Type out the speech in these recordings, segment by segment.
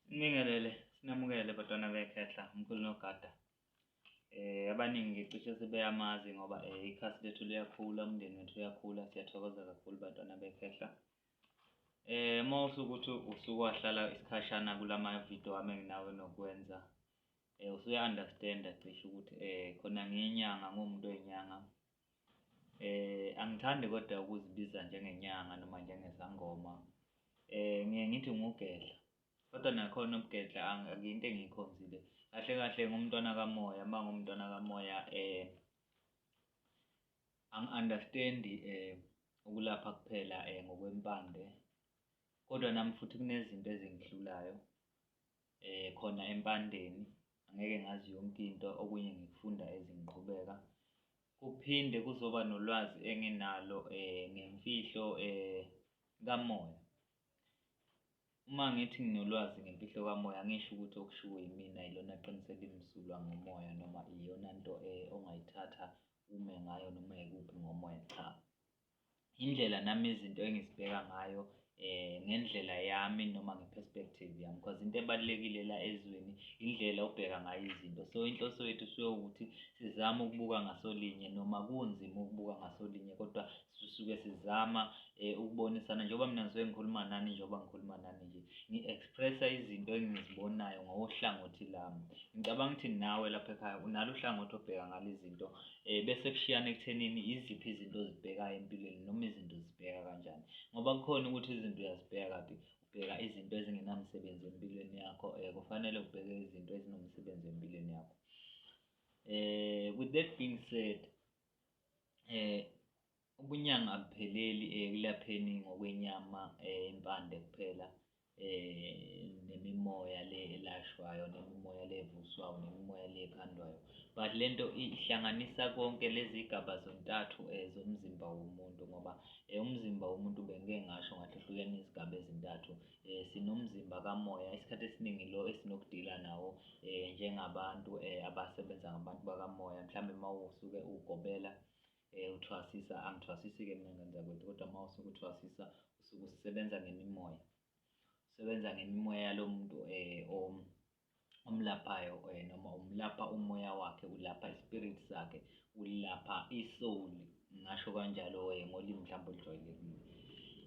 Sibingelele, sinamukele bantwana bekhehla umkhulu nogada. Eh abaningi cishe sebeyamazi ngoba eh, ikhasi lethu liyakhula, umndeni wethu uyakhula, siyathokoza kakhulu bantwana bekhehla. Eh uma usukuthi usuke wahlala isikhashana kulama video wami enginawe nokwenza eh usuya understand cishe ukuthi eh khona ngiyinyanga ngumuntu oyinyanga Eh angithandi kodwa ukuzibiza njengenyanga noma njengezangoma. Eh ngiye ngithi ngugedla. Kodwa nakhona ubugedla akuyinto engiyikhonzile. Kahle kahle ngumntwana kamoya, uma ngumntwana kamoya eh angi-understand eh ukulapha kuphela eh ngokwempande. Kodwa nami futhi kunezinto ezingihlulayo. eh khona empandeni angeke ngazi yonke into okunye ngikufunda ezingiqhubeka kuphinde kuzoba nolwazi enginalo eh ngemfihlo eh kamoya uma ngithi nginolwazi ngemfihlo kamoya angisho ukuthi okushiwo yimina yilona qiniso elimsulwa ngomoya noma iyona nto eh ongayithatha ume ngayo noma yikuphi ngomoya cha indlela nami izinto engizibheka ngayo eh ngendlela yami noma ngeperspective yami because into ebalulekile la ezweni indlela obheka ngayo izinto so inhloso yethu suke ukuthi sizama ukubuka ngasolinye noma kunzima ukubuka ngasolinye kodwa sisuke sizama eh, ukubonisana njengoba mina ngisuke ngikhuluma nani njengoba ngikhuluma nani nje ngi-expressa izinto engizibonayo ngohlangothi lami ngicabanga ukuthi nawe lapha ekhaya unalo uhlangothi obheka ngalo izinto eh bese kushiyana ekuthenini iziphi izinto ozibhekayo empilweni noma izinto zibheka kanjani ngoba kukhona ukuthi izinto uyazibheka kabi ubheka izinto ezingenamsebenzi empilweni yakho eh kufanele ubheke izinto ezinomsebenzi empilweni yakho eh with that being said eh Ubunyanga abupheleli ekulapheni ngokwenyama impande kuphela nemimoya le elashwayo nemimoya le evuswayo nemimoya le ekhandwayo but le nto ihlanganisa konke lezi gaba zontathu um zomzimba womuntu ngoba um umzimba womuntu bengike ngasho ngathi uhlukene izigaba ezintathu um sinomzimba kamoya isikhathi esiningi lo esinokudila nawo um njengabantu um abasebenza ngabantu bakamoya mhlawumbe uma usuke ugobela Eh uthwasisa angithwasisi ke mina ngane zakwethu kodwa uma usukuthwasisa usuke usebenza ngemimoya. Usebenza ngemimoya yalo muntu eh om omlaphayo eh noma umlapha umoya wakhe ulapha ispirit sakhe ulapha isoul ngasho kanjalo eh ngolimi mhlawumbe olujwayelekile.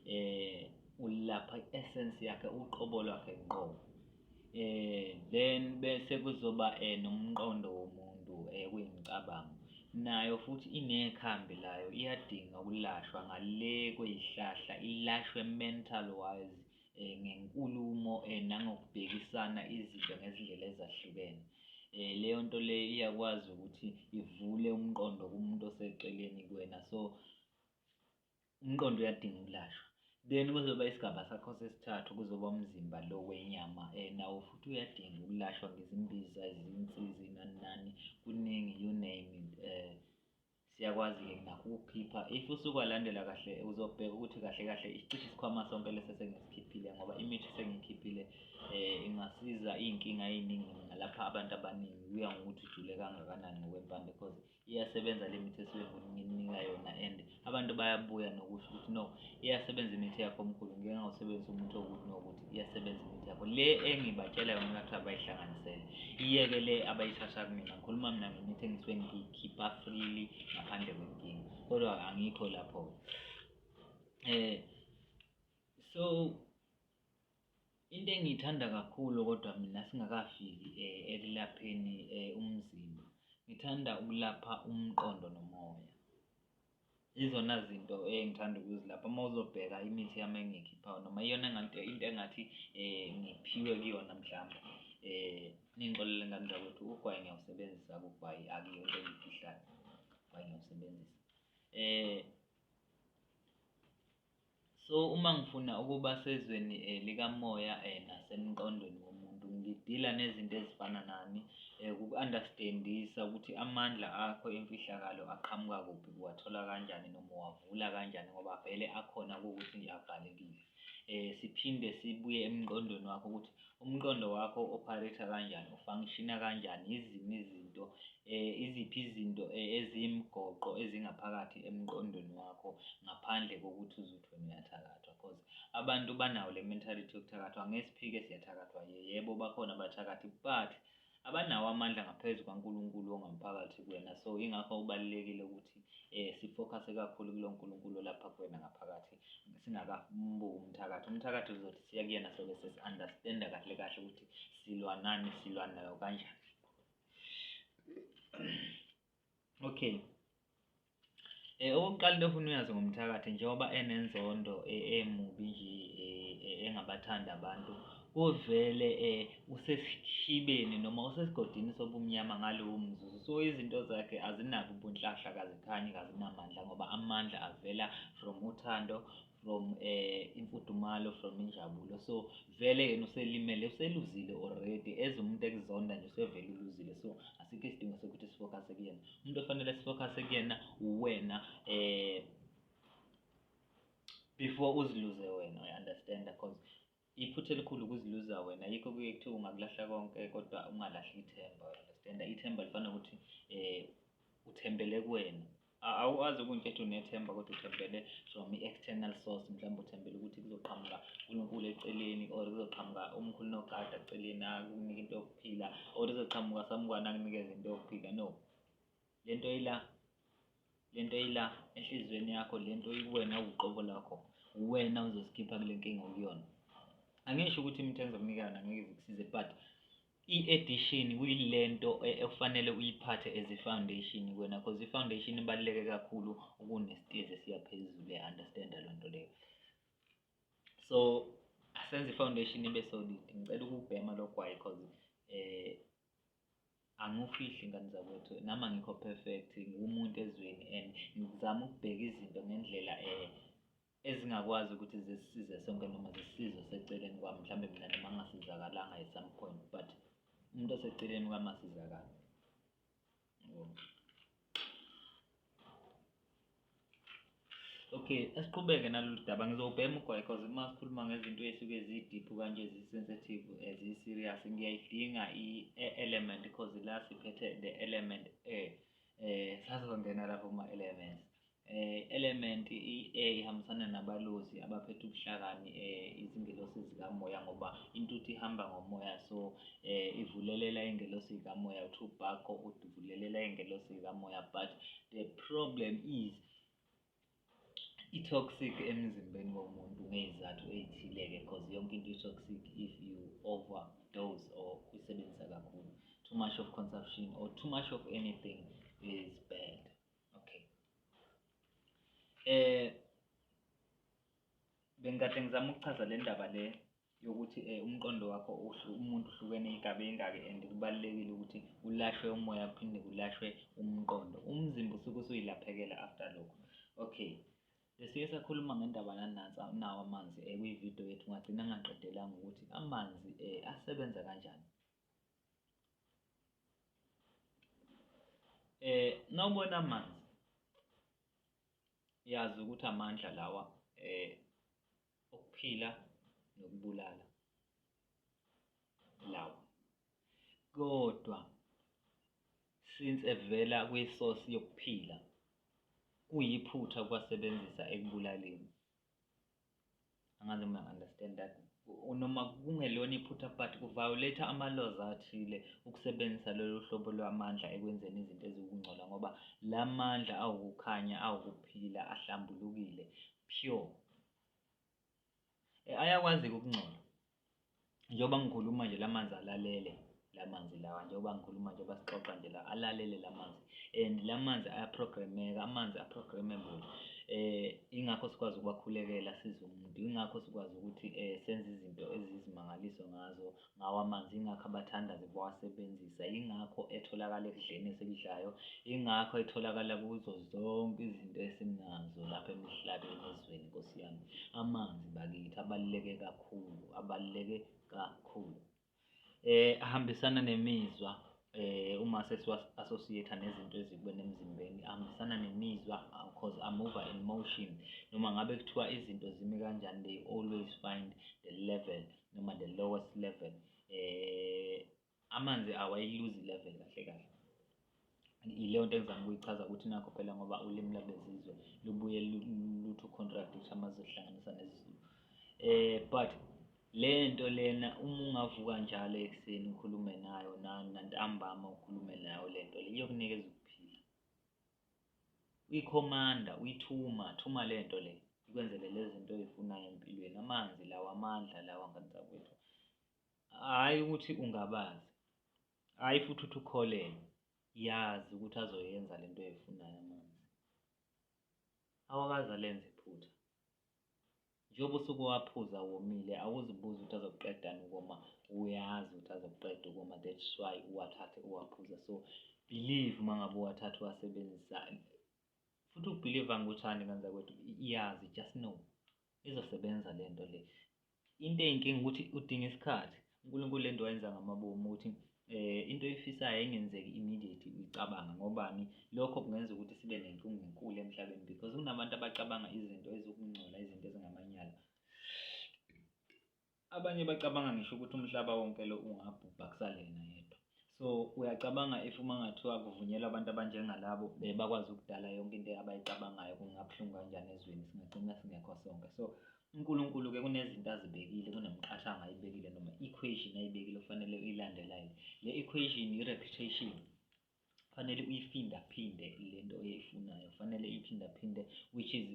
Eh ulapha i-essence yakhe uqobo lwakhe ngqo. eh then bese kuzoba eh nomqondo womuntu eh kuyimicabango nayo futhi inekhambi layo iyadinga ukulashwa ngale kweyihlahla ilashwe mental wise eh ngenkulumo eh nangokubhekisana izinto ngezindlela ezahlukene eh leyo nto le iyakwazi ukuthi ivule umqondo kumuntu oseceleni kuwena so umqondo uyadinga ukulashwa then kuzoba isigaba sakho sesithathu kuzoba umzimba lo wenyama um nawo futhi uyadinga ukulashwa ngezimbiza izinsizi nani nani kuningi you name it um siyakwazi-ke nakho ukukhipha if usukwalandela kahle uzobheka ukuthi kahle kahle isicishe isikhwama sonke lesi esengisikhiphile ngoba imithi esengiyikhiphile um ingasiza iy'nkinga ey'ningi ngalapha abantu abaningi kuya ngokuthi ujule kangakanani ngokwempande because iyasebenza le mithi esuke ngininika yona and abantu bayabuya nokusho ukuthi no iyasebenza imithi yakho omkhulu ngike ngawusebenzisa umuthi okuthi nokuthi iyasebenza imithi yakho le engibatshela yona ngathi abayihlanganisele iyeke le abayithatha kumina ngikhuluma mina ngemithi engisuke ngiyikhipha freely ngaphandle kwenkinga kodwa angikho lapho-ke um so Into engiyithanda kakhulu kodwa mina singakafiki eh, ekulapheni eh, umzimba, ngithanda ukulapha umqondo nomoya. Izona zinto engithanda ukuzilapha uma uzobheka imithi yami engiyikhiphayo noma iyona engathi into engathi eh, ngiphiwe kuyona mhlawumbe eh, ningixolele ngani zakwethu ugwayi ngiyawusebenzisa kugwayi akuyo into engiyifihlayo ugwayi ngiyawusebenzisa um So uma ngifuna ukuba sezweni um likamoya um nasemqondweni womuntu ngidila nezinto ezifana nani um kuku-understandisa ukuthi amandla akho emfihlakalo aqhamuka kuphi uwathola kanjani noma uwavula kanjani ngoba vele akhona kuwukuthi nje abhalekile um siphinde sibuye emqondweni wakho ukuthi umqondo wakho opharetha kanjani ufangishina kanjani yiziphi izinto eh iziphi izinto eh, ezimgoqo ezingaphakathi emqondweni wakho ngaphandle kokuthi uzuthi wena uyathakathwa because abantu banawo le mentality yokuthakathwa ngesiphike siyathakathwa yebo bakhona abathakathi but abanawo amandla ngaphezu kwaNkulunkulu ongaphakathi kuwena so ingakho kubalulekile ukuthi eh sifocuse kakhulu kulo Nkulunkulu lapha kuwena ngaphakathi singakambuli umthakathi umthakathi uzothi siya kuyena sobe sesi-understand kahle kahle ukuthi silwa nani silwa nayo kanjani okay Eh, okokuqala into ofuna uyazi ngomthakathi njengoba enenzondo eh, emubi nje eh, engabathandi abantu uvele um usesishibeni noma usesigodini sobumnyama ngalowo mzuzu so izinto zakhe azinabo ubunhlahla kazikhanyi kazinamandla ngoba amandla avela from uthando from eh imfudumalo from injabulo so vele yena uselimele useluzile already as umuntu ekuzonda nje usevele uluzile so asikho isidingo sokuthi sifocus kuyena umuntu ofanele sifocus kuyena uwena eh before uziluze wena uyaunderstand because Iphutha elikhulu ukuziluza wena yikho kuye kuthiwa ungakulahla konke kodwa ungalahli ithemba understand ithemba lifana ukuthi eh uthembele kuwena awazi ukuthi ethi unethemba kodwa uthembele from i-external source mhlawumbe uthembele ukuthi kuzoqhamuka uNkulunkulu eceleni or kuzoqhamuka umkhulu nogada eceleni akunike into yokuphila or kuzoqhamuka samukwana akunikeze into yokuphila no lento ila lento ila enhliziyweni yakho lento ikuwena uqobo lakho uwena uzosikhipha kule nkinga okuyona angisho ukuthi imithenzo omnikana ngeke zikusize but i-edition kuyilento e-, ekufanele uyiphathe as i-foundation kwena because i-foundation ibaluleke kakhulu kunesitezi esiya phezulu e-understanda loo nto leyo so asenze i-foundation ibe solid ngicela ukubhema logwayi because um eh, Angikufihli ngane zakwethu nami angikho perfect ngumuntu ezweni and ngizama ukubheka izinto ngendlela eh ezingakwazi ukuthi zisisize sonke noma zisisize oseceleni kwami mhlawumbe mina noma ngingasizakalanga at some point but umuntu oseceleni kwami asizakala Okay, asiqhubeke nalolu daba. Ngizobhema ugwayi cause uma sikhuluma ngezinto esuke zi-deep kanje zi-sensitive eh, zi-serious ngiyayidinga i-element cause la siphethe the element e eh sazongena lapho kuma-elements Eh, element i-A ihambisana nabalozi abaphethe ubuhlakani eh, izingelosi zikamoya ngoba intuthu ihamba ngomoya so eh, ivulelela ingelosi zikamoya utubako uvulelela ingelosi zikamoya but the problem is i-toxic emzimbeni womuntu ngeyizathu eyithile-ke because yonke into i-toxic if you overdose or uyisebenzisa kakhulu too much of consumption or too much of anything is bad Okay. Eh bengikade ngizama ukuchaza le ndaba le yokuthi eh umqondo wakho umuntu uhlukene igabe ingaki and kubalekile ukuthi ulashwe umoya kuphinde kulashwe umqondo umzimba usuke usuyilaphekela after lokho okay besiye sakhuluma ngendaba nanansa nawo amanzi eh kwivideo yethu ngagcina ngaqedelanga ukuthi amanzi eh asebenza kanjani eh nawubona amanzi yazi ukuthi amandla lawa eh okuphila nokubulala lawa kodwa since evela kwisosi yokuphila kuyiphutha kwasebenzisa ekubulaleni angazi noma understand that noma kungelona iphutha but ku-violate ama-laws athile ukusebenzisa lolu hlobo lwamandla ekwenzeni izinto eziwukungcola ngoba la mandla awukukhanya awukuphila ahlambulukile pure eh, ayakwazi-ke ukungcola njengoba ngikhuluma nje la manzi alalele la manzi lawa njengoba ngikhuluma njengoba sixoxa nje la alalele la manzi and la manzi ayaprogrameka amanzi aprogrammable um eh, ingakho sikwazi ukuwakhulekela size umuntu ingakho sikwazi ukuthi um senze izinto ezizimangaliso ngazo ngawo amanzi ingakho abathandazi bawasebenzisa ingakho etholakala ekudleni esikudlayo ingakho etholakala kuzo zonke izinto esinazo lapha emhlabeni ezweni nkosi yami amanzi bakithi abaluleke kakhulu kakhulu abaluleke kakhulu eh ahambisana nemizwa eh uma sesiwa associate nezinto ezikubene emzimbeni ahambisana nemizwa because i move in motion noma ngabe kuthiwa izinto zimi kanjani they always find the level noma the lowest level eh amanzi awayiluzi level kahle kahle yileyo nto engizama ukuyichaza ukuthi nakho phela ngoba ulimi lwabezizwe lubuye luthu contract ukuthi amazwi ehlanganisa nezizulu eh but le nto lena uma ungavuka njalo ekuseni ukhulume nayo nantambama ukhulume nayo le nto le iyokunikeza ukuphila uyikhomanda uyithuma thuma le nto le ikwenzele lezi zinto oyifunayo empilweni amanzi lawa amandla lawa nganisa kwethu hhayi ukuthi ungabazi hhayi futhi uthi ukholelwe yazi ukuthi azoyenza le nto oyifunayo amanzi awakaze alenze iphutha njengoba usuke waphuza womile awuzibuzi ukuthi azokuqedani ukoma uyazi ukuthi azokuqeda ukoma that's why uwathathe uwaphuza so believe uma ngabe uwathathe uwasebenzisa futhi ukubhiliva ngikuthandi kanza kwethu iyazi just know izosebenza le nto le into eyinkinga ukuthi udinga isikhathi uNkulunkulu lento wayenza ngamabomu ukuthi eh into oyifisayo engenzeki immediate uyicabanga ngobani lokho kungenza ukuthi sibe nenkinga enkulu emhlabeni because kunabantu abacabanga izinto ezokungcola izinto ezingamanyala abanye bacabanga ngisho ukuthi umhlaba wonke lo ungabhubha kusalena yedwa so uyacabanga if uma ngathiwa kuvunyelwa abantu abanjengalabo bakwazi ukudala yonke into abayicabangayo kungabuhlungu kanjani ezweni singagcina singekho sonke so uNkulunkulu-ke kunezinto azibekile kunemiqathango ayibekile noma equation ayibekile okufanele uyilandelayo le equation i-reputation kufanele uyiphindaphinde le nto oyifunayo kufanele iyiphindaphinde which is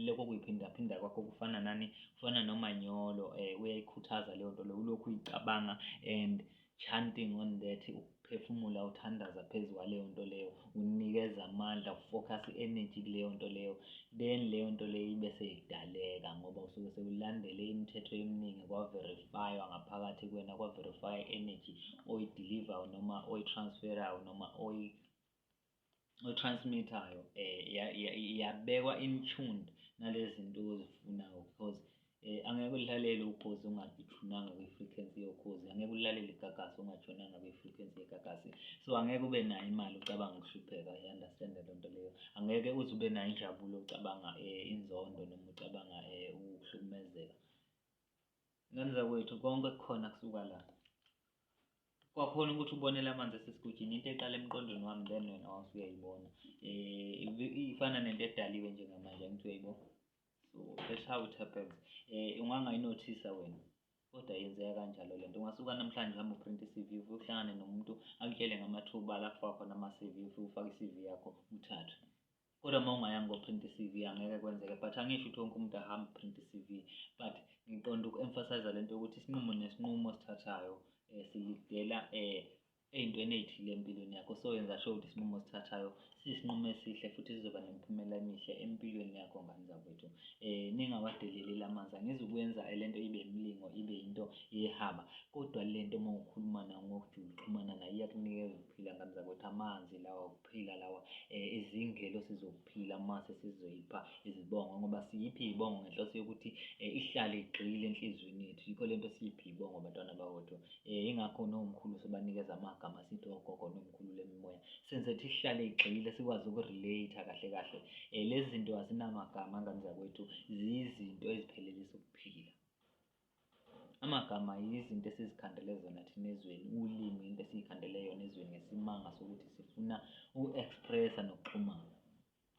lokho kuyiphindaphinda kwakho kufana nani kufana nomanyolo um uyayikhuthaza leyo nto leyo ulokhu uyicabanga and Chanting on that ukuphefumula uthandaza phezu kwaleyo nto leyo unikeza amandla ufocus i-energy kuleyo nto leyo then leyo nto leyo ibe seyidaleka ngoba usuke sewulandele imithetho eminingi kwaverifywa ngaphakathi kwena kwaverifywa i-energy oyidelivayo noma oyitransferayo noma oyi otransmithayo um yabekwa in tuned nalezi nto ozifunayo because um angeke ulalele ukhozi ungathunanga kwi-frequency yokhozi angeke ulalele igagasi ungathunanga kwi-frequency yegagasi so angeke ube nayo imali ucabanga ukuhlupheka i-understande loo nto leyo angeke uze ube nayo injabulo ucabanga um inzondo noma ucabanga um ukuhlukumezeka Ngane zakwethu konke kukhona kusuka la. Kwakhona ukuthi ubonele amanzi asesigujini into eqala emqondweni wami then wena wawusuyayibona. Um eh, ifana nento edaliwe njengamanje angithi uyayibona. So that's how it happens. Um ungangayinothisa wena kodwa yenzeka kanjalo le nto. Ungasuka namhlanje uhambe uprinte i-C_V uvuke uhlangane nomuntu akutshele ngamathuba la kufakwa khona ama-C_V ufike ufake i-C_V yakho uthathwe. kodwa uma ungayanga koprint i-cv angeke kwenzeke but angisho ukuthi wonke umuntu ahambe print i-cv but ngiqonda uku-emphasize le nto yokuthi isinqumo nesinqumo osithathayo um silidela um ey'ntweni ey'thile empilweni yakho so yenza sho ukuthi isinqumo osithathayo siyisinqumo esihle futhi sizoba nemiphumela emihle empilweni yakho ngane zakwethu um eh, ningawadeleleli amanzi angizukwenza le nto ibe imilingo ibe yinto yehaba kodwa le nto uma ukhuluma nayo ngokujula uxhumana nayo iyakunikeza ukuphila ngane zakwethu amanzi lawa phila lawa eh, izingelosi zokuphila mase sizoyipha izibongo ngoba siyiphi izibongo ngenhloso yokuthi eh, ihlale igxile enhliziyweni yethu yikho lento siyiphi izibongo bantwana bakwethu eh, ingakho nomkhulu sobanikeza amagama sithi ogogo nomkhulu lemimoya senze ukuthi ihlale igxile sikwazi ukurelate kahle kahle lezi zinto azinamagama ngane zakwethu ziyizinto eziphelelisa ukuphila Amagama yizinto esizikhandele zona thina ezweni, ulimi into esiyikhandele yona ezweni ngesimanga sokuthi sifuna uku-expressa nokuxhumana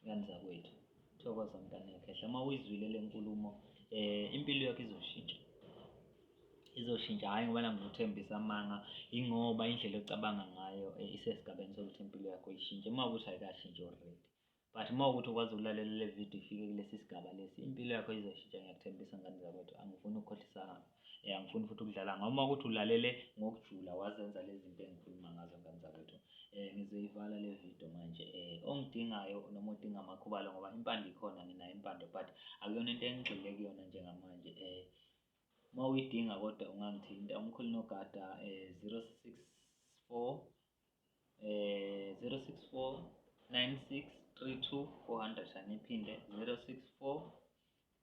ngani zakwethu. Thokoza mntanekhehla, uma uyizwile le nkulumo um impilo yakho izoshintsha izoshintsha hhayi ngoba nangizothembisa amanga ingoba indlela ocabanga ngayo eh, isesigabeni sokuthi impilo yakho ishintshe uma ukuthi ayikashintshi already but uma ukuthi ukwazi ukulalela le video ifike kulesi sigaba lesi impilo yakho izoshintsha ngiyakuthembisa ngane zakwethu angifuni ukukhohlisana um eh, angifuni futhi ukudlala ngoma ukuthi ulalele ngokujula wazenza lezi zinto engikhuluma ngazo ngane zakwethu um ngizoyivala le video manje um ongidingayo noma odinga amakhubalo ngoba impande ikhona nginayo impande but akuyona into engigxile kuyona njengamanje um uma uyidinga kodwa ungangithinta umkhulu nogada um zero six four eh 064 9632400 aniphinde 064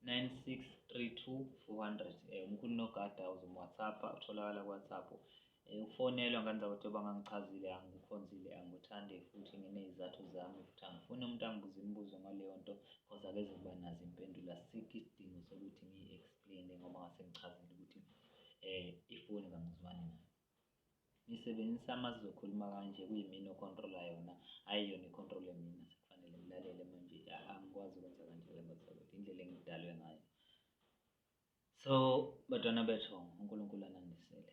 9632400 eh umkhulu nogada uzomwhatsapp utholakala ku WhatsApp eh ufonelwa ngenza ukuthi bangangichazile angikukhonzile angikuthande futhi nginezizathu zami futhi angifuni umuntu angibuze imibuzo ngaleyo nto because akeze kuba nazo impendulo asikho isidingo sokuthi ngiyi-explain ngoba ngase ngichazile ukuthi eh ifoni kangizwani nayo Ngisebenzisa ama sizokhuluma kanje kuyimina ocontrola yona hhayi yona icontrole mina sekufanele ngilalele manje angikwazi ukwenza kanje ke bathakathi indlela engidalwe ngayo so batwana bethu unkulunkulu anandisele